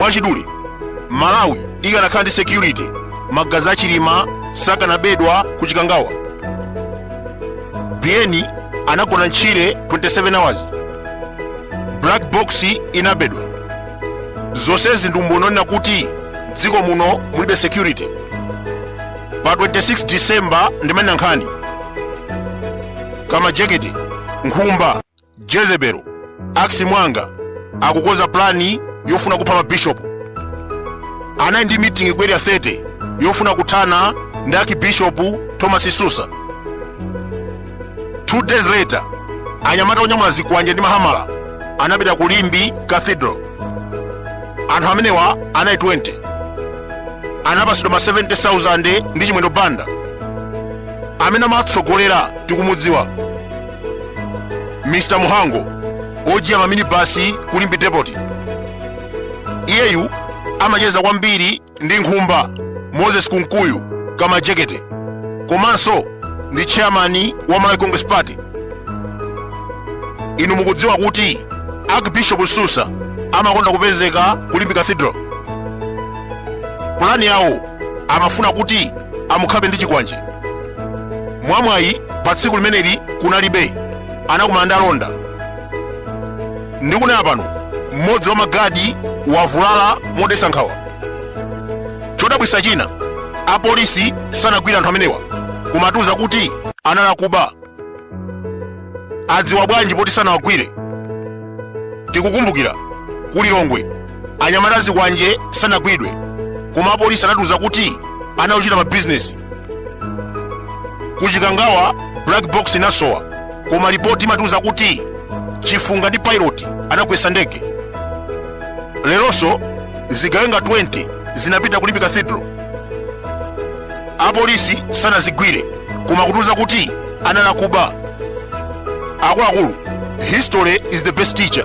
Mwachidule, Malawi ikanakhala ndi security, magazi a Chilima sakanabedwa ku Chikangawa. Biyeni anagona ntchire 27 hours. Black box inabedwa. Zonsezi ndi umboni onena kuti dziko muno mulibe security. Pa 26 December ndimanena nkhani. Kamajekete, nkhumba, jezebelo Akis Mwanga akukonza plani yofuna kupha mabishopu anali ndi mitingi ku area 30 yofuna kuthana ndi archbishop thomas msusa two days later anyamata onyamula zikwanje ndi mahamala anapita ku limbe cathedral anthu amenewa anali 20 anapatsidwa ma 70000 ndi chimwendo banda amene amatsogolera tikumudziwa mr muhango ojiya maminibasi ku limbe depoti iyeyu amacheza kwambiri ndi nkhumba moses kunkuyu kamajekete komanso ndi chairmani wa malawi congress party inu mukudziwa kuti archbishop msusa amakonda kupezeka ku limbe cathedral pulani yawo amafuna kuti amukhape ndi chikwanje mwamwayi pa tsiku limeneli kunalibe anakumana ndi alonda ndikunena pano mmodzi wa magadi wavulala modetsa nkhawa chodabwitsa china apolisi sanagwire anthu amenewa koma atiuza kuti anali akuba adziwa bwanji poti sanawagwire tikukumbukira ku lilongwe anyamata azikwanje sanagwidwe koma apolisi anatiuza kuti anali ochita mabizinesi ku chikangawa black box inasowa koma lipoti imatiuza kuti chifunga ndi pilot anagwetsa ndege leronso zigawenga 20 zinapita ku limbe cathedral apolisi sanazigwire koma kutiuza kuti anali akuba akuluakulu history is the best teacher